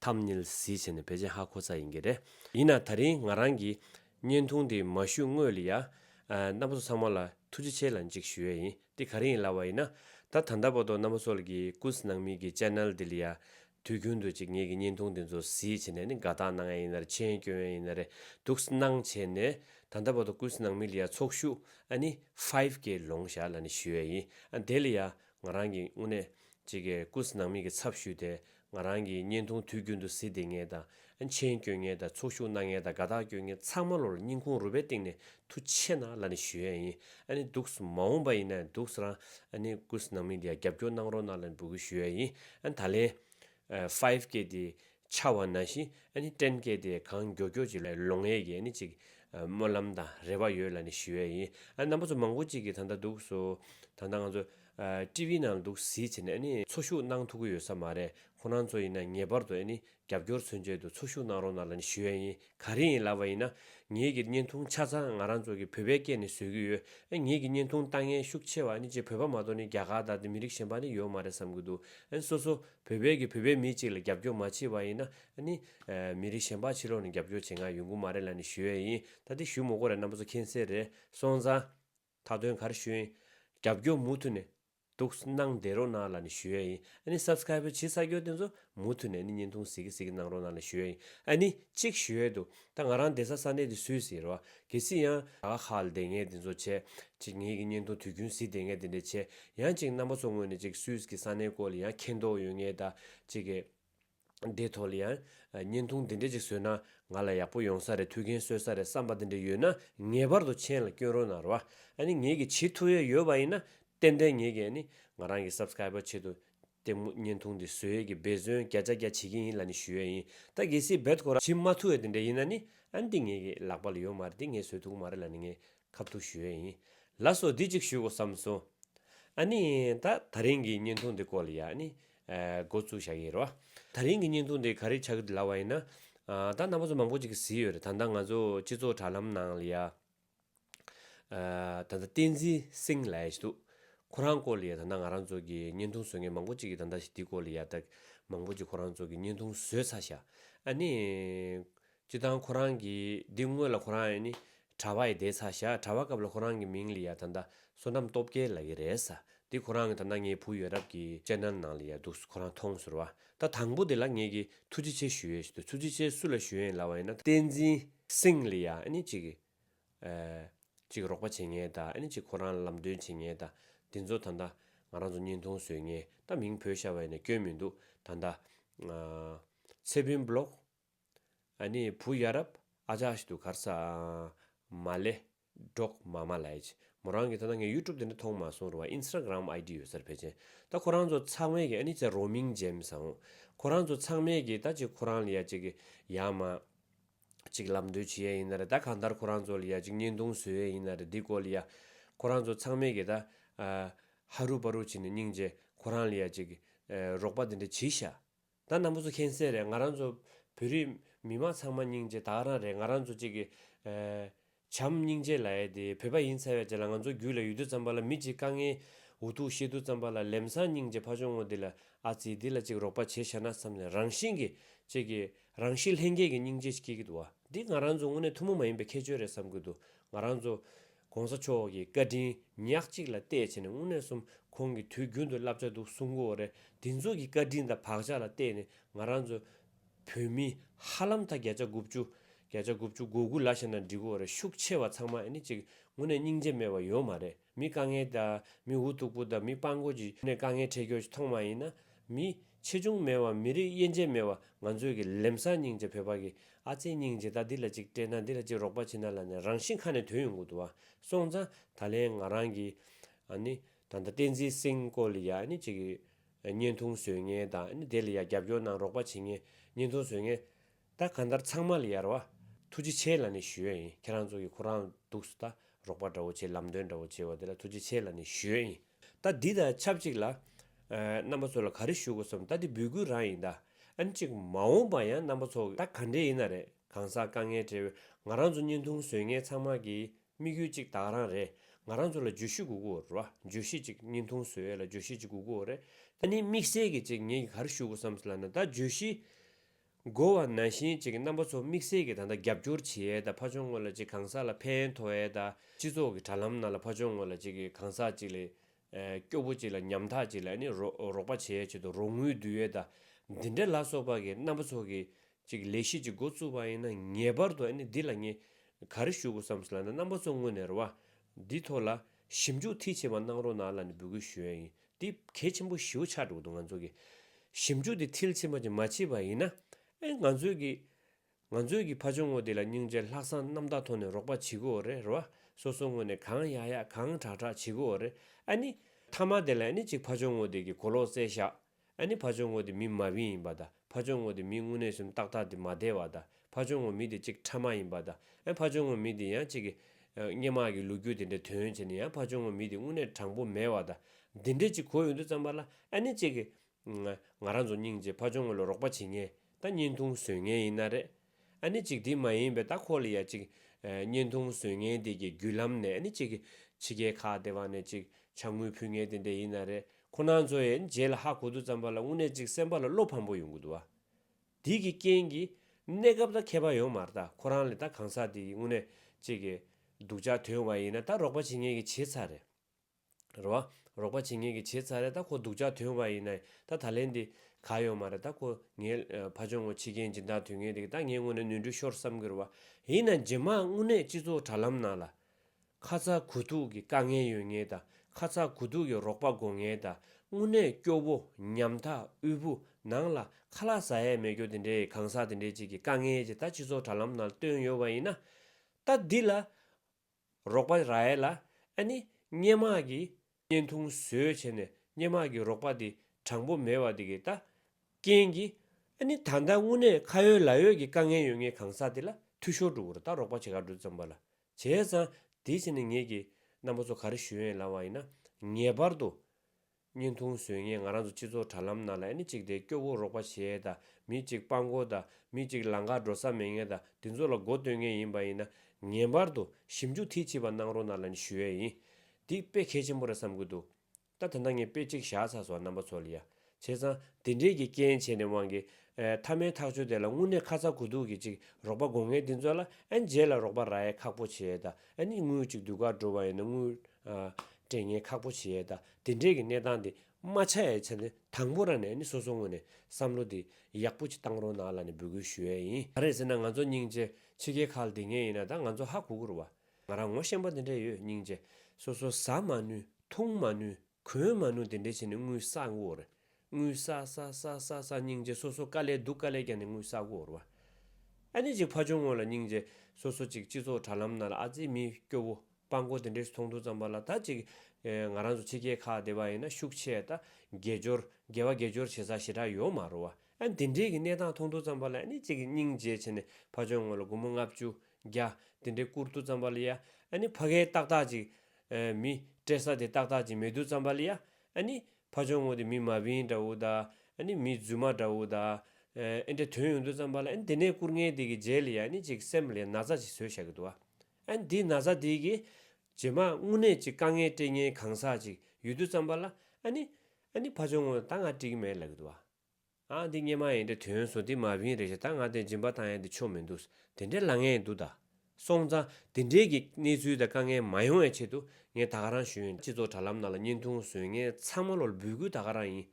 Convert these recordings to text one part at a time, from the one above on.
ཐམ་ནེལ་གཟི་བྱས་ནས་བེད་སྤྱད་ཧ་གོ་ས་ཡིན་གྱི་རེད། ཡིན་ན་ད་རིང་ང་རང་གིས་བརྙན་ཐུང་དེ་མ་བཞུས་སྔོས་ལ་ཡ། རྣམ་པ་ཚོ་ཚང་མ་ལ་ཐུགས་རྗེ་ཆེ་ལ་འཇིགས་ཞུ་ཡས་ཡིན་དེ་ག་རིང་ཡིན་ལབ་བ་ཡིན་ན། ད་ད་ལྟ་བར་དུ་རྣམ་པ་ཚོ་ལ་གི་ཀུས་ནང་མི་གི Channel དེ་ལ་ཡ། དུས་རྒྱུན་དུ་ཅིག་ངེད་གི་བརྙན་ཐུང་དེ་ཚོ་གཟི་བྱས་ནས་ནི་དགའ་ཐག་གནང་ཡས་ཡིན་ན་རེད་མཆན་བསྐྱོན་ཡས་ཡིན་ན་རེད་འདུག་སྣང་བྱས་ནས་ད་ལྟ་བར་དུ་ཀུས་ནང་མི་ལ་ཡ་ཚོགས་ཞུགས་ཨ་ནི Five K ལོང་བཞག་ལ་ནི་ཞུ་ཡས་ཡིན་དེ་ལ་ཡ་ང་རང་གིས་དངོས་གནས་ཅིག་གི་ཀུས་ནང་མི་གི་ཚབ་ཞུས་ཏེ་ང་རང་གིས་བརྙན་ཐུང་དུས་རྒྱུན་དུ་གཟི་བདེ་ངལ་དང། མཆན་བསྐྱོན་ངལ་དང་ཚོགས་ཞུགས་གནང་ངལ་དང་དགའ་རྟགས་བསྐྱོན་ངལ་ཚང་མ་ལོར་སྙིང་ཁུང་རུས་པའི་གཏིང་ནས་ཐུགས་ཆེ་ན་ལ་ནི་ཞུ་ཡ་ཡིན་ཨ་ནི་འདུག་མ་འོངས་པ་ཡིན་ན་འདུག་རང་ཨ་ནི་སྐུ་ནང་མི་འདི་ཡ་རྒྱབ་སྐྱོར་གནང་རོགས་གནང་ལ་ནི་འབུལ་གུས་ཞུ་ཡ་ཡིན་ཨ་ནི་ད་ལན། Five K དེ་ཆ་བ་ན་བཞིན་ཨ་ནི Ten K དེ་གང་མགྱོ་གྱོ་ཅིག་ལོ་ངས་ཀྱི་ཨ་ནི་ཅིག་སྨོན་ལམ་དང་རེ་བ་ཡོད་ལ་ནི་ཞུ་ཡ་ཡིན་ཨ་ནི་རྣམ་པ་ཚོ་མང་པོ་ཅིག་གིས་ད་ལྟ་འདུག་སོ་ད་ལྟ་ང་ཚོ་ཀྲི་བྷི་ནང་འདུག་གཟིགས་བྱས་ནས་འཚོ་བཞུགས་གནང་ཐུབ་ཀྱི་ཡོད་ས་མ་རེད་ཁོ་རང་ཚོ་ཡིན་ན་ངེས་པར་དུ་རྒྱབ་སྐྱོར་མཚོན་བྱེད་དུ་འཚོ་བཞུགས་གནང་རོགས་གནང་ལ་ཞུ་ཡ་ཡིན་ག་རེ་ཡིན་ལབ་པ་ཡིན་ན་ངེད་ཀྱི་བརྙན་ཐུང་ཆ་ཚང་ང་རང་ཚོ་གི་བོད་པའི་སྐད་ནས་བཟོས་ཀྱི་ཡོད་ངེད་ཀྱི་བརྙན་ཐུང་ལྟ་ངན་ཤུགས་ཆེ་བ་ཅི་བོད་པ་མ་གཏོགས་རྒྱ་གར་དང་དེ་མི་རིགས་གཞན་པ་ཡོད་མ་རེད་བསམ་གྱི་འདུག་སོ་སོ་བོད་པའི་གི་བོད་པའི་མི་གཅིག་ལ་རྒྱབ་སྐྱོར་མ་བྱེད་པ་ཡིན་ན་མི་རིགས་གཞན་པ་ཕྱི་ལོགས་ནས་རྒྱབ་སྐྱོར་བྱེད་མཁན་ཡོང་གི་མ་རེད་ལ་ཞུ་ཡ་ཡིན་ད་དེ་ཞུ་མོ་གོ་རེད་གནང་པ་ཚོ་མཁྱེན་གསལ་རེད་སོང་ཙང། མཐའ་དོན་གར་ཞུས་ཡིན། རྒྱབ་སྐྱོར་མུ་མཐུད་ནས། འདུག། གནང་བསྡད་རོགས་གནང་ལ་ནི་ཞུས་ཡ་ཡིན། ཨ་ནི Subscribe བྱེད་ས་སྐྱོར་དེ་ཚོ་མུ་མཐུད་ནས་ནི་བརྙན་ཐུང་གཟིགས་གི་གཟིགས་གི་གནང་རོགས་གནང་ལ་ཞུས་ཡ་ཡིན། ཨ་ནི། གཅིག་ཞུས་ཡས་འདུག། ད་ང་རང་བསྡད་ས་ས་གནས་དེ་སུས་གཟིགས་རོགས། གལ་སྲིད་ཡང། ད་ཁ་ཁ་ལ་བསྡད་ངས་དེ་ཚོ་བྱས། གཅིག་ངེད་ཀྱི་བརྙན་ཐུང་དུས་རྒྱུན་གཟིགས་བསྡད་ངས་དེ་འདྲས་བྱས། ཡང་གཅིག་རྣམ་པ་ཚོ་ངོས་ནས་གཅིག་སུས་གི་ས་གནས་སྐོར་ལ་ཡང་མཁྱེན་རྟོགས་ཡོད་ངས་ད། གཅིག་གི། འདི་ཐོག་ལ་ཡང་བརྙན་ཐུང་འདི་འདྲ་ཅིག་བཟོས་ན་ང་ལ་ཡག་པོ་ཡོང་ས་རེད་ཐུགས་འགན་གསོས་ས་རེད་བསམ་པ་འདི་འདྲ་ཡོད་ན་ངེས་པར་དུ་མཆན་ལ་བསྐྱོན་རོགས་གནང་རོགས་ཨ་ནི་ངེད་ཀྱི་བྱེད་ཐུབ་ཡས་ཡོད་པ་ཡིན་ན་ཏན་ཏན་ངེད་ཀྱི་ཨ་ནི་ང་རང་གི Subscriber ཆེད་དུ་ལྟད་མོ་བརྙན་ཐུང་འདི་བཟོས་ཡས་ཀྱི་འབད་བརྩོན་བརྒྱ་ཆ་བརྒྱ་བྱེད་ཀྱི་ཡིན་ལ་ནི་ཞུ་ཡས་ཡིན་ད་གལ་སྲིད་འབད་ཐོག་ར་བྱེད་མ་ཐུབ་ཡས་དེ་འདྲ་ཡིན་ན་ནི་ཨ་ནི་འདི་ངེད་ཀྱི་ལག་པ་ལ་ཡོད་མ་རེད་འདི་ངས་བཟོས་ཐུག་གི་མ་རེད་ལ་ནི་ངས་ཁབ་ཐུག་ཞུ་ཡས་ཡིན་ལ་སོ་འདི་ཅིག་ཞུ་དགོས་བསམ་སོང་ཨ་ནི་ད་ད་རིང་གི་བརྙན་ཐུང་འདི་སྐོར་ལ་ཡང་ཨ་ནི་འགོ་བཙུགས་བཞག་ཡིན་རོ། ད་རིང་གི་བརྙན་ཐུང་དེ་ག་རེ་ཆགས་ཀྱི་ལ་བ་ཡིན་ན། ད་ནང་པ་ཚོ་མང་པོ་ཅིག་གཟིགས་ཡོད་རེད་ད་ལྟ་ང་ཚོ་སྤྱི་ཚོགས་དྲ་ལམ་ནང་ལ་ཡ། ད་ལྟ་བསྟན་འཛིན་སིང་ལ་ཡ་ཞིག་འདུག་ཁོ་རང་སྐོར་ལ་ཡ་ད་ནང་ང་རང་ཚོ་གི་བརྙན་ཐུང་བཟོ་མཁན་མང་པོ་ཅིག་གིས་ད་ལྟ་ཞིག་འདི་སྐོར་ལ་ཡ་ད་མང་པོ་ཅིག་ཁོ་རང་ཚོ་གི་བརྙན་ཐུང་བཟོས་ཚར་བཞག་ཨ་ནི། སྤྱི་དང་ཁོ་རང་གི་འདི་དངོས་ལ་ཁོ་རང་ཡི་ནི་གྲྭ་བ་ཡི་དེ་ཚ་ཞག་གྲྭ་བ་སྐབས་ལ་ཁོ་རང་གི་མིང་ལི་ཡ་ད་ད་བསོད་ནམས་སྟོབས་རྒྱལ་ལ་ཡི་རེད་ས་འདི་ཁོ་རང་གི་ད་ད་ངའི་བུ་ཡོད་རབས་ཀྱི་ཅན་ནལ་ནང་ལི་ཡ་འདུག་ཁོ་རང་མཐོང་ཟུར་བ་ད་དང་པོ་དེ་ལ་ངས་ཀྱི་ཐུགས་རྗེ་ཆེ་ཞུ་ཡས་ཞུ་དུས་ཐུགས་རྗེ་ཆེ་སུ་ལ་ཞུ་ཡན་ལ་བ་ཡི་ན་བསྟན་འཛིན་སིང་ལི་ཡ་ཨ་ནི་ཅིག་གི་ཅིག་རོགས་པ་བྱེད་ངེས་ད་ཨ་ནི་ཅིག་ཁོ་རང་ལ་ལམ་སྟོན་བྱེད་ངེས་ད་འདི་ཚོ་ད་ད་ང་རང་ཚོ་བརྙན་ཐུང་བཟོས་ངེས་ད་མིང་བོད་ཤ་བ་ཡི་ན་སྐྱོན་མི་འདུག་ད་ད་ཚེ་བུན་བློག་ཨ་ནི་བུ་ཡ་རབ་ཨ་ཅག་ཞིག་འདུག་གར་ས་ཨ་མ་ལེ། འབྲོག་མ་མ་ལེས། མོ་རང་གིས་ཐ་ན་ངའི YouTube དེ་འདྲ་མཐོང་མ་སོང་རུང་བ Instagram ID ཡོད་སར་ཕེབས་ཆེན། ད་ཁོ་རང་ཚོ་ཚང་མས་ཀྱི་ཨ་ནི་ཚེ་རོག་མིང་ཅན་བཟང། ཁོ་རང་ཚོ་ཚང་མས་ཀྱི་ད་ཅིག་ཁོ་རང་ལ་ཡ་ཅིག་གི་ཡ་མ། ཅིག་ལབ་འདོད་བྱེད་ཡ་ཡིན་ན་རེད་ད་གང་ལྟར་ཁོ་རང་ཚོ་ལ་ཡ་ཅིག་བརྙན་ཐུང་བཟོས་ཡ་ཡིན་ན་རེད་འདི་སྐོར་ལ་ཡ། ཁོ་རང་ཚོ་ཚང་མས་ཀྱི་ད་ཧ་རུ་པ་རུ་བྱེད་ནས་སྙིང་རྗེ་ཁོ་རང་ལ་ཡ་ཅིག་གི་རོག་པ་དེ་འདྲ་བྱེད་ཤག། ད་ནམ་བཟོ་མཁན་གསལ་རེད་ང་རང་ཚོ་བོད་རིགས་མི་དམངས་ཚང་མ་སྙིང་རྗེ་དག་རང་རེད་ང་རང་ཚོ་གཅིག་གི་བྱམས་སྙིང་རྗེ་ལ་ཡས་དེ་བོད་པ་ཡིན་ཚར་བས་ཅི་ལ་ང་ཚོ་རྒྱུད་ལ་ཡོད་དུས་ཙམ་པ་ལ་མི་གཅིག་དཀའ་ངལ་འུ་ཐུག་ཤེས་དུས་ཙམ་པ་ལ་ལེམ་སང་སྙིང་རྗེ་ཕ་ཆོ་ངོ་དེ་ལ་ཨ་ཙི་དེ་ལ་གཅིག་རོགས་པ་བྱེད་ཤ་ན་བསམ་ནས་རང་བཞིན་གྱི་གཅིག་གི་རང་གཤིས་ལྷན་སྐྱེས་ཀྱི་སྙིང་རྗེ་ཞིག་སྐྱེ་གི་འདུག་བ་འདི་ང་རང་ཚོ་དངོས་གནས་ཐུན་མོང་མ་ཡིན་པའི་ཁྱད་ཆོས་རེད་བསམ་གི་འདུག་ང་རང་ཚོ ྋགོང་ས་མཆོག་གི་བཀའ་དྲིན་ཉག་གཅིག་ལ་གཏད་བྱས་ནས་དངོས་གནས་གསུམ་ཁོང་གི་དུས་རྒྱུན་དུ་བསླབ་བྱ་འདུག་གསུང་གོ་རེ་འདི་ཚོ་གི་བཀའ་དྲིན་དང་བག་ཆགས་ལ་གཏད་ནས་ང་རང་ཚོ་བོད་མི་ཧ་ལམ་མཐའ་བརྒྱད་ཆ་དགུ་བཅུ། བརྒྱད་ཆ་དགུ་བཅུ་དགུ་དགུ་ལ་ཞེ་ན་འགྲིག་གོ་རེ་ཤུགས་ཆེ་བ་ཚང་མ་ཨེ་ནི་ཅིག་དངོས་གནས་སྙིང་རྗེ་མེད་བ་ཡོད་མ་རེད་མི་དཀའ་ངལ་དང་མི་འུ་ཐུག་པོ་དང་མི་དཔང་རྒོད་ཀྱི་དཀའ་ངལ་འཕྲད་རྒྱོ་ཅི་མཐོང་མ་ཡིན་ན་མི། ཆེ་ཆུང་མེད་བ་མི་རིགས་དབྱེ་འབྱེད་མེད་བ་ང་ཚོས་ཀྱི་ལེམ་སང་སྙིང་རྗེ་བོད་པ་གི་ཨ་ཙེ་སྙིང་རྗེ་ད་འདི་ལ་ཅིག་སྤྲད་ན་འདི་ལ་ཅིག་རོགས་པ་བྱེད་ན་ལ་ནས་རང་བཞིན་ཁ་ནས་དོན་ཡོང་གི་འདུག་བ་སོང་ཙང་ད་ལན་ང་རང་གི་ཨ་ནི་ད་ལྟ་བསྟན་འཛིན་སིང་སྐོར་ལ་ཡ་ཨ་ནི་ཅིག་གི་བརྙན་ཐུང་བཟོས་ངེས་དང་ཨ་ནི་དེ་ལ་ཡ་རྒྱབ་སྐྱོར་གནང་རོགས་པ་བྱེད་ངེས་བརྙན་ཐུང་བཟོས་ངེས་ད་གང་ལྟར་ཚང་མ་ལ་ཡར་བ། ཐུགས་རྗེ་ཆེ་ལ་ནི་ཞུས་ཡིན་ཁྱེད་རང་ཚོ་གི་ཁོ་རང་འདུག་སུ་ད་རོགས་པ་འདྲ་བོ་བྱེད་ལམ་སྟོན་འདྲ་བོ་བྱེད་བ་དེ་ལ་ཐུགས་རྗེ་ཆེ་ལ་ནི་ཞུས་ཡིན་ད་འདི་དང་ཆབས་ཅིག་ལ། རྣམ་པ་ཚོ་ལ་ག་རེ་ཞུ་དགོས་སམ་ད་འདི་འབུལ་དགོས་རང་ཡིན་ད་ཨ་ནི་ཅིག་མ་འོངས་པ་ཡང་རྣམ་པ་ཚོ་ད་ག་འདྲེ་ཡིན་ན་རེད་གང་ཟག་དཀའ་ངལ་བྲལ་བའི་ང་རང་ཚོ་བརྙན་ཐུང་བཟོས་མཁན་ཚང་མ་གི་དམིགས་ཡུལ་ཅིག་དག་རང་རེད་ང་རང་ཚོ་ལ་བརྗོད་གཞི་གུ་གུ་རེད་བརྗོད་གཞི་ཅིག་བརྙན་ཐུང་བཟོས་ཡས་ལ་བརྗོད་གཞི་ཅིག་གུ་གུ་རེད་ད་ནི་དམིགས་བསལ་གི་ཅིག་ངེད་ཀྱི་ག་རེ་ཞུ་དགོས་སམ་ཟེར་ལ་ན་ད་བརྗོད་གཞི། འགོ་བ་ན་ཞིང་གཅིག་གི་རྣམ་པ་ཚོ་དམིགས་བསལ་གྱིས་ད་ལྟ་རྒྱབ་སྐྱོར་བྱེད་ཡས་དང་ཕ་ཆོང་ངོ་ལ་ཅིག་གང་ཟག་ལ་ཕན་ཐོ་ཡས་དང་སྤྱི་ཚོགས་ཀྱི་དྲ་ལམ་ནང་ལ་ཕ་ཆོང་ངོ་ལ་ཅིག་གི་གང་ཟག་ཅིག་ལས་སྐྱོ་བོ་ཅིག་ལ་ཉམ་ཐག་ཅིག་ལ་ནི་རོགས་པ་བྱེད་ཡས་ཆེད་དུ་རོགས་དངུལ་བསྡུ་ཡས་དང་འདི་འདྲ་ལ་སོགས་པ་གི་རྣམ་པ་ཚོ་གི་ཅིག་ལས་གཞི་ཅིག་འགོ་བཙུགས་པ་ཡིན་ན་ངེས་པར་དུ་འདི་ལ་ངས་ག་རེ་ཞུ་དགོས་སམ་ཟེར་ལ་ན་རྣམ་པ་ཚོ་དངོས་ནས་ར་བ་འདི་ཐོག་ལ་ཞིབ་འཇུག་མཐིལ་ཆེ་བ་གནང་རོགས་གནང་ལ་ནི་འབོད་སྐུལ་ཞུ་ཡས་ཡིན་འདི་གལ་ཆེན་པོ་ཞེའུ་ཆགས་འགྲོ་འདུག་ང་ཚོ་གི་ཞིབ་འཇུག་འདི་མཐིལ་ཕྱིན་པ་ཅིག་མ་མཆིས་པ་ཡིན་ན་ཨེ་ང་ཚོའི་གི་ང་ཚོའི་གི་ཕ་ཆུང་ངོ་དེ་ལ་སྙིང་རྗེ་ལྷག་བསམ་རྣམ་དག་ཐོག་ནས་རོགས་པ་བྱེད་གི་འོ་རེད་རོ་སོ་སོ་ངོ་ནས་གང་ཡག་ཡག་གང་དྲག་དྲག་བྱེད་གི་འོ་རེད་ཨ་ནི། མཐའ་མ་དེ་ལ་ཨེ་ནི་ཅིག་ཕ་ཆུང་ངོ་དེ་གི་གོ་ལོག་རྩེ་བཞག་ཨེ་ནི་ཕ་ཆུང་ངོ་དེ་མི་མ་བིན་ཡིན་པ་དང་ཕ་ཆུང་ངོ་དེ་མི་དངོས་གནས་སུམ་རྟགས་རྟགས་དེ་མ་བདེ་བ་དང་ཕ་ཆུང་ངུ་མི་དེ་གཅིག་ཕྲ་མ་ཡིན་པ་དང་ཡང་ཕ་ཆུང་ངུ་མི་དེ་ཡང་གཅིག་སྙན་དམག་གི་ལུག་ཁྱུ་དེ་འདྲའི་དོན་བྱས་ནས་ཡང་ཕ་ཆུང་ངུ་མི་དེ་དངོས་གནས་དྲང་པོ་མེད་བ་དང་འདི་འདྲའི་གཅིག་གོ་ཡོང་དུས་ཙམ་པ་ལ་ཨ་ནི་གཅིག་ང་རང་ཚོ་སྙིང་རྗེ་ཕ་ཆུང་ངུ་ལ་རོགས་པ་བྱེད་ངེས་ད་བརྙན་ཐུང་བཟོས་ངན་ཡིན་ན་རེད་ཨ་ནི་གཅིག་དེ་མ་ཡིན་པའི་ད་ཁོ་ལ་ཡང་གཅིག་བརྙན་ཐུང་བཟོས་ངན་དེ་གི་བརྒྱུད་ལམ་ནས་ཨ་ནི་གཅིག་ཕྱི་རྒྱལ་ཁག་དེ་བ་ནས་གཅིག་ཕྱག་དངུལ་ཕུལ་ངན་དེ་འདྲའི་ཡིན་ན་རེད་ཁོ་ནང་ཚོ་ཡང་རྗེས་ལ་ཧ་གོ་དུས་ཙམ་པ་ལ་དངོས་གནས་གཅིག་སེམས་པ་ལ་བློ་ཕམ་པོ་ཡོང་གི་འདུག་བ། དེའི་གི་རྐྱེན་གྱིས་གནས་སྐབས་ད་མཁས་པ་ཡོང་མར་ད་ཁོ་རང་ལས་ད་གང་ཟག་དེ་ཡི་དངོས་གནས་ཅིག་གི་སྡུག་ཅག་དོན་དབང་ཡིན་ན་ད་རོགས་པ་བྱེད་ངེས་གི་བྱེད་ཚར་རེད། རོ། རོགས་པ་བྱེད་ངེས་གི་བྱེད་ཚར་རེད་ད་ཁོ་སྡུག་ཅག་དོན་དབང་ཡིན་ན་ད་ད་ལན་དེ་ག་ཡོང་མ་རེད་ད་ཁོ་ངའི་ཕ་ཆུང་ངོ་ཕྱི་རྒྱལ་འབྱིན་སྟངས་དུས་ངན་དེ་གི་ད་ངའི་དངོས་གནས་ནུས་འབྲུ་ཤོར་བསམ་གི་རུ་བ་ཡིན་ན་རྗེས་མ་དངོས་གནས་སྤྱི་ཚོགས་དྲ་ལམ་ནང་ལ་ཁ་ཚ་གུ་དུག་གི་དཀའ་ངལ་ཡོད་ངེས་དང་ཁ་ཚ་གུ་དུག་གི་རོགས་པ་དགོས་ངེས་དང་དངུལ་གནས་སྐྱོ་བོ་ཉམ་ཐག་དབུལ་བོ་ནང་ལ་ཁ་ལག་ཟ་ཡས་མེད་སྐྱོ་དེ་འདྲའི་གང་ཟག་དེ་འདྲའི་ཅིག་གི་དཀའ་ངལ་ཅིག་ད་སྤྱི་ཚོགས་དྲ་ལམ་ནང་བཏོན་ཡོད་པ་ཡིན་ན། ད་འདི་ལ་རོགས་པ་ར་ཡས་ལ་ཨ་ནི་སྙན་མག་གི་བརྙན་ཐུང་བཟོས་བྱས་ནས་སྙན་མག་གི་རོགས་པ་དེ་དྲང་པོ་མེད་བ་དེ་གི་ད་རྐྱེན་གི་ཨ་ནི་ད་ད་དངུལ་གནས་ཁ་ཡོད་ལག་ཡོད་གི་དཀའ་ངལ་ཡོད་ངེས་གང་ཟག་དེ་ལ་འཐུས་ཤོར་འགྲོ་གུ་ར་ད་རོགས་པ་བྱེད་ག་འགྲོ་བརྩམས་པ་ལ་བྱས་ཙང། དེའི་ཕྱིར་ནི་ངེད་ཀྱིས། རྣམ་པ་ཚོ་ག་རེ་ཞུ་ཡོན་ལང་བ་ཡིན་ན། ངེས་པར་དུ། བརྙན་ཐུང་བཟོས་ངེས་ང་རང་ཚོ་སྤྱི་ཚོགས་དྲ་ལམ་ནང་ལ་ཨེ་ནི་གཅིག་དེ་སྐྱོ་བོ་རོགས་པ་བྱས་དང་མི་གཅིག་དཔའ་མགོ་དང་མི་གཅིག་ལང་ཀ་འགྲོ་ས་མེད་ངེས་དང་དེ་ཚོ་ལ་མགོ་བཏོན་ངེས་ཡིན་པ་ཡིན་ན། ངེས་པར་དུ་ཞིབ་འཇུག་མཐིལ་ཕྱིས་པ་གནང་རོགས་ནང་ལ་ནི་ཞུ་ཡས་ཡིན། འདི་དཔེ་གལ་ཆེན་པོ་རེད་བསམ་གི་འདུག། ད་དེ་འདྲ་ངས་དཔེ་གཅིག་བཞག་ཚར་སོང་རྣམ་པ་ཚོ་ལ་ཡ། བྱས་ཙང། དེ་འབྲེལ་གྱི་རྐྱེན་བྱས་ནས་དབང་གིས། མཐའ་མའི་ཐག་གཅོད་དེ་ལ་དངོས་གནས་ཁ་ཚ་དགོས་གཏུགས་ཀྱི་ཅིག་རོགས་པ་དགོས་ངེས་འདི་ཚོ་ལ་ཨ་མཇལ་ལ་རོགས་པ་ར་ཡས་ཁག་པོ་བྱེད་ད་ཨ་ནི་དངུལ་ཅིག་དུས་འགར་འགྲོ་བ་ཡིན་ན་དངུལ། སྤྲད་ངེས་ཁག་པོ་བྱེད་ད་དེ་འབྲེལ་གྱི་གནས་སྟངས་དེ་མ་ཆགས་ཡས་ཆ་ནས་དང་པོ་ར་ནས་ཨ་ནི་སོ་སོ་དངོས་ནས་བསམ་བློ་དེ་ཡག་པོ་ཅིག་བཏང་རོགས་གནང་ལ་ནས་འབོད་སྐུལ་ཞུ་ཡས་ཡིན། ག་རེ་ཟེར་ན་ང་ཚོ་སྙིང་རྗེ་ཕྱི་རྒྱལ་ཁག་ལ་དེ་ངས་ཡིན་ན་ད་ང་ཚོ་ཧ་གོ་གོ་རུ་བ། ང་རང་ངོ་ཤེས་པ་དེ་འདྲས་ཡོད་སྙིང་རྗེ། སོ་སོ་ཟ་མ་ནུས་འཐུང་མ་ནུས་གོན་མ་ནུས་དེ་འདྲས་བྱས་ནས་དངུལ་ས་དགོས་རེད། དངུལ་ས་ས་ས་ས་ས་སྙིང་རྗེ་སོ་སོ་དཀའ་ལས་སྡུག་དཀའ་ལས་རྒྱག་ནས་དངུལ་ས་དགོས་རེད་བ། ཨ་ནི་ཅིག་ཕ་ཆུང་ངོ་ལ་སྙིང་རྗེ་སོ་སོ་ཅིག་སྤྱི་ཚོགས་དྲ་ལམ་ནང་ལ་ཨ་ཙི་མི་སྐྱོ་བོ་དཔའ་མགོ་དེ་འདྲས་སུ་མཐོང་ཐུག་ཙམ་པ་ལ་ད་ཅིག་ང་རང་ཚོ་ཕྱི་རྒྱལ་ཁག་སྡེ་བ་ཡིན་ན་ཤུགས་ཆེ་ད་དགེ་སྦྱོར་དགེ་བ་དགེ་སྦྱོར་བྱེད་ས་ཞེ་དྲག་ཡོད་མ་རུང་བ་ཨ་ནི་དེ་འདྲས་ཀྱི་གནས་སྟངས་མཐོང་ཐུག་ཙམ་པ་ལ་ཨ་ནི་ཅིག་སྙིང་རྗེ་བྱས་ནས་ཕ་ཆུང་ངོ་ལ་དགུང་མོ་ལྔ་བཅུ་བརྒྱ། དེ་འདྲའི་བསྐུར་དུ་བརྩམས་པ་ལ་ཡ། ནི་བྷ་གའི་རྟགས་དག་ཅིག། མི། སྤྲད་ས་དེ་རྟགས་དག་ཅིག་མེད་དུ་བརྩམས་པ་ལ་ཡ། ནི། བྷ་ཆུང་ངུ་དེ་མི་མ་བིན་འདྲ་བོ་དག། ནི་མི་རྫུན་མ་འདྲ་བོ་དག། ཨེ་འདྲའི་དོན་ཡོང་དུ་བརྩམས་པ་ལ་ནི་དེ་ནས་བསྐུར་ངན་དེ་གི་རྗེས་ལ་ཡ། ནི་ཅིག་སེམས་ལ་ཡ་ན་བཟའ་ཅིག་ཟོས་བཞག་གི་འདུག་ཨ། ནི་དེའི་ན་བཟའ་དེ་གི། རྗེས་མ་རྔུ་ནད་ཅིག་དཀའ་ངལ་སྤྲད་ངན་གང་ཟག་ཅིག་ཡོད་དུ་བརྩམས་པ་ལ་ཨ། ནི། ནི་བྷ་ཆུང་ངུ་ད་ང་སྤྲད་གི་མེད་ལབ་གི་འདུག་ཨ། ཨ་འདི་སྙེ་མ་ཡིན་འདྲ་དོན་བཟོ་འདི་མ་བིན་རེད་ཞེས་ད་ང་དེ་སྦྱིན་པ་དང་ཡང་དེ་ཆོ་མི་འདུག་དེ་འདྲའི་ལ་ངས་འདུག་ད། སོང་ཙང་དེ་འདྲའི་གི་གནས་ཚུལ་དང་དཀའ་ངལ་མ་ཡོང་བའི་ཆེད་དུ་ངས་ད་ག་རང་ཞུ་ཡོན་སྤྱི་ཚོགས་དྲ་ལམ་ནང་ལ་བརྙན་ཐུང་བཟོས་ངས་ཚང་མ་ལོར་འབུལ་དགོས་ད་ག་རང་ཡིན།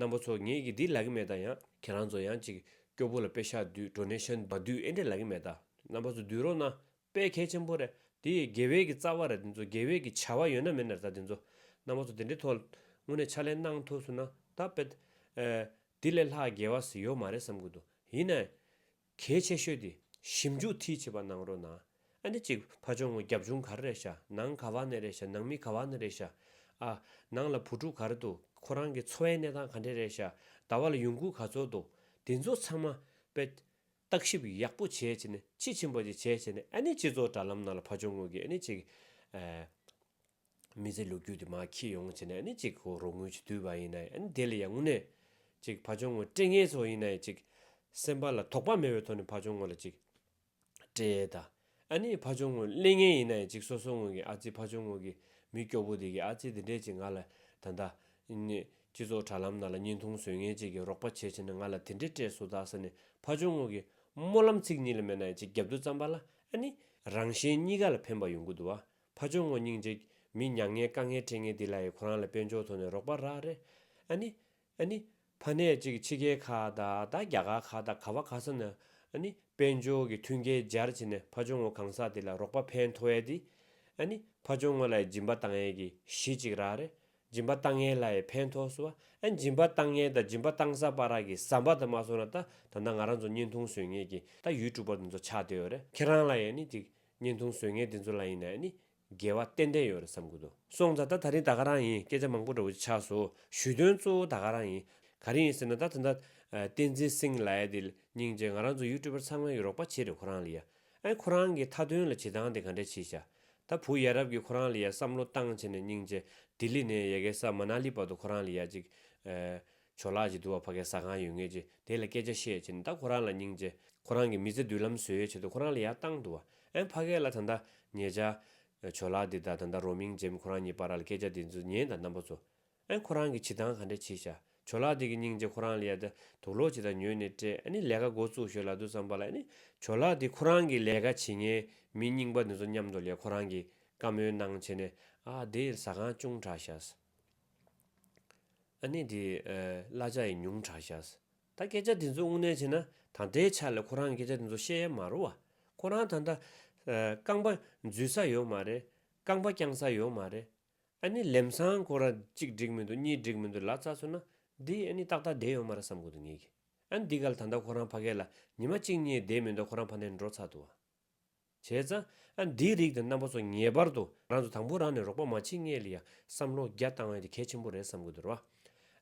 རྣམ་པ་ཚོ་ངས་གི་འདི་ལ་གི་མེད་ད་ཡང་ཁྱེད་རང་ཚོ་ཡང་ཅིག་སྐྱོ་པོ་ལ་དཔེ་ཤག་དུས་འགྲོ་ནས་ཤ་འབ་དུས་ཨེ་འདྲ་ལ་གི་མེད་ད་རྣམ་པ་ཚོ་འདུས་རོགས་ན་དཔེ་གལ་ཆེན་པོ་རེད། དེ་ཡིས་དགེ་བས་ཀྱི་རྩ་བ་རེད་དེ་ཚོ་དགེ་བས་ཀྱི་བྱ་བ་ཡོད་ན་མེད་ན་རེད་ད་དེ་ཚོ། གནང་བ་ཚོ་དེ་འདྲའི་ཐོག་དངོས་གནས་ཕྱག་ལེན་གནང་ཐུབ་སོང་ན་ད་དཔེ། དེ་ལས་ལྷག་དགེ་བ་ཟིག་ཡོད་མ་རེད་བསམ་གྱི་འདུག་ཡིན་ན། གལ་ཆེ་ཤོས་དེ་ཞིབ་འཇུག་མཐིལ་ཆེ་བ་གནང་རོགས་གནང། ཨ་ནི་གཅིག་ཕ་ཆུང་ངུ་རྒྱབ་ཆུང་ག་རེ་རེད་ཤག་ནང་ག་བ་ནས་རེད་ཤག་ནང་མི་ག་བ་ནས་རེད་ཤག་ཨ། ནང་ལ་བུ་ཕྲུག་ག་རེ་འདུག་ཁོ་རང་གི་འཚོ་བའི་གནས་སྟངས་ག་འདྲས་རེད་ཤག་ཟླ་བ་ལ་ཡོང་ཁུལ་ག་ཚོད་འདུག་དེ་ཚོ་ཚང་མ་དཔེ། བརྟག་ཞིབ་ཡག་པོ་བྱས་ཕྱིན་དཔྱིས་ཕྱིན་པ་ཞིག་བྱས་ཕྱིན་ཨ་ནི་སྤྱི་ཚོགས་དྲ་ལམ་ནང་ལ་ཕ་ཆོས་དངོས་ཀྱི་ཨ་ནི་ཅིག་མི་ཚེ་ལུག་ཁྱུ་དེ་མ་འཁྱིལ་ཡོང་ཕྱིན་ཨ་ནི་ཅིག་གོ་རོགས་དངུལ་ཆུ་དུལ་བ་ཡིན་ནའི་ཨ་ནི་དེ་ལ་ཡང་དངོས་གནས་ཅིག་ཕ་ཆོས་དངོས་སྤྲེལ་ངན་ཚོ་ཡིན་ནའི་ཅིག་སེམས་པ་ལ་དོགས་པ་མེད་པའི་ཐོག་ནས་ཕ་ཆོས་དངོས་ལ་ཅིག་སྤྲེལ་དང། ཨ་ནེའི་ཕ་ཆུང་ངུ་གླེང་ངེས་ཡིན་ན་ཡང་ཅིག་སོ་སོ་ངོས་ཀྱི་ཨ་ཙི་ཕ་ཆུང་ངུ་གི་མི་སྐྱོ་པོ་དེ་གི་ཨ་ཙི་དེ་འདྲས་ཅིག་ང་ལ་ད་ལྟ། སྤྱི་ཚོགས་དྲ་ལམ་ནང་ལ་བརྙན་ཐུང་བཟོས་ངེས་ཅིག་གི་རོགས་པ་བྱེད་བྱེད་ན་ང་ལ་དེ་འདྲས་སྤྲད་སོ་དཱ་ས་ནི་ཕ་ཆུང་ངུ་གི་སྨོན་ལམ་ཚིག་གཉིས་ལ་མེད་ན་ཡང་ཅིག་རྒྱབ་དུ་བརྩམས་པ་ལ་ཨ་ནེ། རང་གཞན་གཉིས་ཀ་ལ་ཕན་པ་ཡོང་གི་འདུག་བ་ཕ་ཆུང་ངུ་སྙིང་རྗེ། མི་མྱ་ངན་དཀའ་ངལ་འཕྲད་ངེས་དེ་ལ་ཡི་ཁོ་རང་ལ་དཔལ་འབྱོར་ཐོག་ནས་རོགས་པ་རག་རེད། ཨ་ནེ། ཨ་ནི། ཕ་ནད་ཅིག་ཕྱི་རྒྱལ་ཁག་དང་དང་རྒྱ་གར་ཁག་དང་ག་བ་ག་ས་ན་ཨ་ནི། དཔལ་འབྱོར་གྱི་མཐུན་རྐྱེན་སྦྱར་བྱས་ནས་ཕ་ཇོ་ངོ་གང་ཟག་དེ་ལ་རོགས་པ་ཕན་ཐོ་ཡས་དེ། ཨ་ནི། ཕ་ཇོ་ངོ་ལ་ཡི་སྦྱིན་པ་བཏང་ཡས་ཀྱི་གཞི་གཅིག་རག་རེ། སྦྱིན་པ་བཏང་ཡས་ལ་ཡི་ཕན་ཐོ་སུ་བ་ཨན་སྦྱིན་པ་བཏང་ཡས་དང་སྦྱིན་པ་བཏང་ས་པ་རག་གི་ཟམ་པ་དང་མ་སོ་ན་ད་ད་ནང་ང་རང་ཚོ་བརྙན་ཐུང་བཟོས་ངེས་ཀྱི་ད་ཡུལ་གྲུ་པར་འདི་ཚོ་ཆགས་དེ་ཡོད་རེ་ཁྱེད་རང་ལ་ཡས་ནི་ཅིག་བརྙན་ཐུང་བཟོས་ངེས་དེ་ཚོ་ལ་ཡིན་ནའི་ཨ་ནི། རྒྱལ་བ་ཏན་ཏན་ཡོད་རེད་བསམ་གི་འདུག་སོང་ཙང་ད་ད་རིང་ད་ག་རང་ཡིན་སྐད་ཆ་མང་པོ་འདྲ་བོ་ཅིག་ཆགས་སོ་ཞུས་དོན་གཙོ་བོ་ད་ག་རང་ཡིན་ག་རེ་ཡིན་ཟེར་ན་ད་ད་ད་བསྟན་འཛིན་སིང་ལའེ་དེ་སྙིང་རྗེ་ང་རང་ཚོ་ཡུ་ཀྲུ་བར་ཚང་མ་ཡིན་རོགས་པ་བྱེད་རེད་ཁོ་རང་ལ་ཡ་ཨེ་ཁོ་རང་གི་མཐའ་དོན་ལ་བྱེད་སྟངས་དེ་ག་འདྲ་བྱེད་ཤག་ད་བུ་ཡ་རབས་ཀྱི་ཁོ་རང་ལ་ཡ་བསམ་བློ་བཏང་བྱས་ནས་སྙིང་རྗེ་ལྡི་ལི་ནས་ཡ་གེ་ས་མ་ན་ལི་བར་དུ་ཁོ་རང་ལ་ཡ་ཅིག་ཨེ། ཆོས་ལགས་ཀྱིས་དུ་བ་ཕ་གའི་ཟ་ཁང་ཡོད་ངེས་ཀྱིས་དེ་ལ་སྐད་ཆ་བཤད་ཀྱིས་ད་ཁོ་རང་ལ་སྙིང་རྗེ། ཁོ་རང་གིས་མི་ཚེ་མདུན་ལམ་བཟོས་ཡོད་ཆེད་དུ་ཁོ་རང་ལ་ཡ་བཏང་དུ་བ་ཨེ་ཕ་གའི་ལ་ད་ད་ཉེས་ཆ། ཆོས་ལགས་འདི་ད་ད་ད་རོ་མིང་འཇེམ་ཁོ་རང་ཉིད་པ་ར་ལ་སྐད་ཆ་འདི་ཚོ་ཉན་ད་རྣམ་པ་ཚོ། ཨེ་ཁོ་རང་གིས་བྱི་སྟངས་ག་འདྲ་བྱིས་ཤ་ཆོས་ལགས་འདི་གི་སྙིང་རྗེ་ཁོ་རང་ལ་ཡ་ད་དུག་ལོག་བྱི་ད་ཉོས་ནས་སྤྲད་ཨེ་ནི་ལས་ཀ་འགོ་བཙུགས་ཞོད་ལ་དུ་བསམ་པ་ལ་ཨེ་ནི་ཆོས་ལགས་འདི་ཁོ་རང་གིས་ལས་ཀ་བྱིས་ངན་མི་རྙིང་པ་འདི་ཚོ་མཉམ་དུ་ལས་ཁོ་རང་གིས་བཀའ་མོལ་གནང་བྱེད་ནས་ཨ་དེའི་ཟ་ཁང་ཅུང་དྲག་ཤ་སི། ཨ་ནེ་འདི། གླ་ཆ་ཡི་ཉུང་དྲག་ཤཱས། ད་སྐད་ཆ་འདི་ཚོ་དངོས་གནས་བྱས་ན་ད་ལྟའི་ཆ་ལ་ཁོ་རང་གི་སྐད་ཆ་འདི་ཚོ་བཤད་ཡ་མ་རོ། ཁོ་རང་ད་ལྟ། རྐང་པ་འཛུལ་ས་ཡོད་མ་རེད། རྐང་པ་བརྐྱང་ས་ཡོད་མ་རེད། ཨ་ནེ་ལེམ་སང་ཁོ་རང་གཅིག་འགྲིག་མི་འདུག་གཉིས་འགྲིག་མི་འདུག་ལ་རྩ་ཚོད་ན། འདི་ཨ་ནེ་ཏག་ཏག་བསྡད་ཡོད་མ་རེད་བསམ་དགོས་འདུག་ངེད་ཀྱིས། ཨ་ནེ་འདི་ག་ལ་ད་ལྟ་ཁོ་རང་ཕ་སྐད་ལ་ཉི་མ་གཅིག་གཉིས་བསྡད་མི་འདུག་ཁོ་རང་ཕ་ནས་འགྲོ་ཚར་འདུག་བ། བྱས་ཙང། ཨ་འདིའི་རིགས་དེ་རྣམ་པ་ཚོ་ངེས་པར་དུ་རང་ཚོ་དང་པོ་རང་ནས་རོགས་པ་མ་བྱེད་ངེས་ལ་ཡ་བསམ་བློ་རྒྱ་བཏང་བ་དེ་གལ་ཆེན་པོ་རེད་བསམ་གི་འདུག་ར་བ།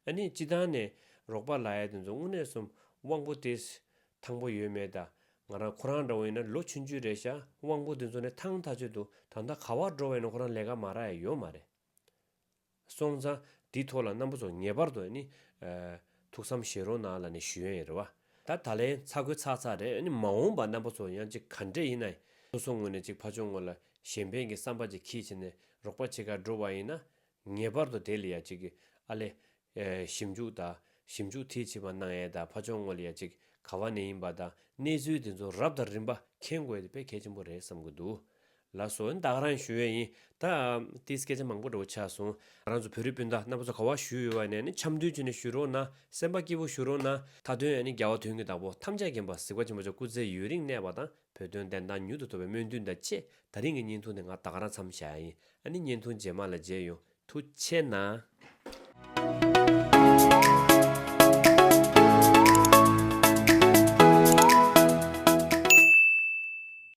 ཨ་ནི་སྤྱི་བཏང་ནས་རོགས་པ་ལ་ཡ་དེ་ཚོ་དངོས་གནས་གསུམ་དབང་པོ་དེ། ཐང་པོ་ཡོད་མེད་དང་ང་རང་ཁོ་རང་འདྲ་བོ་ཡིན་ན་ལོ་ཆུང་ཆུང་རེད་ཤག་དབང་པོ་དེ་ཚོ་ནས་ཐང་ཐག་ཆོད་འདུག་ད་ལྟ་ག་བར་འགྲོ་བ་ཡིན་ན་ཁོ་རང་ལས་ཀ་མ་རག་ཡ་ཡོད་མ་རེད། སོང་ཙང་དེའི་ཐོག་ལ་རྣམ་པ་ཚོ་ངེས་པར་དུ་ནི། ཐུགས་བསམ་བཞེས་རོགས་གནང་ལ་ནི་ཞུ་ཡོན་ཡེར་བ། ད་ད་ལན་ཚ་གོས་ཚག་ཚག་རེད་ནི་མ་འོངས་པ་རྣམ་པ་ཚོ་ཡང་ཅིག་ག་འདྲས་ཡིན་ན། སོ་སོ་ངོས་ནས་ཅིག་ཕ་ཆོག་ངོ་ལ་གཞན་ཕན་གྱི་བསམ་པ་ཅིག་གིས་བྱས་ནས་རོགས་པ་བྱེད་ཀ་འགྲོ་བ་ཡིན་ན། ངེས་པར་དུ་དེ་ལ་ཡང་ཅིག་ཨ་ལས། ཞིབ་འཇུག་དང་ཞིབ་འཇུག་མཐིལ་ཕྱིན་པ་གནང་ཡས་དང་ཕ་ཆོག་ངོ་ལ་ཡང་ཅིག་ག་བ་ནས་ཡིན་པ་དང་གནས་ཚུལ་དེ་ཚོ་རབས་དང་རིམ་པ་མཁྱེན་དགོས་ཡས་དེ་དཔེ་གལ་ཆེན་པོ་རེད་བསམ་གི་འདུག་ལ་སོ་བདག་རང་ཞུ་ཡས་ཡིན་ད། དེའི་སྐད་ཆ་མང་པོ་འདྲ་བོ་ཆགས་སོང། རང་ཚོ་བོད་རིགས་སྤུན་ཟླ་རྣམ་པ་ཚོ་ག་བ་ཞུ་ཡོད་བ་ནས་ནི་འཆམ་མཐུན་བྱས་ནས་ཞུ་རོགས་གནང་སེམས་པ་སྐྱིད་པོ་ཞུ་རོགས་གནང་ད་དོན་ཡང་ནི་རྒྱ་བ་དོན་གྱི་བདག་པོ་ཐམས་ཅད་རྒན་པ་གཟིགས་པ་ཆེན་པོ་ཅག་སྐུ་ཚེ་ཡུན་རིང་གནས་པ་དང་བོད་དོན་བདེན་མཐའ་མྱུར་དུ་ཐོབ་པའི་སྨོན་འདུན་དང་བཅས་ད་རིང་གི་བརྙན་ཐུང་འདི་ང་བདག་རང་འཚམས་བཞག་ཡས་ཡིན་ཨ་ནི་བརྙན་ཐུང་རྗེས་མ་ལ་མཇལ་ཡོང་ཐུགས་ཆེ་གནང།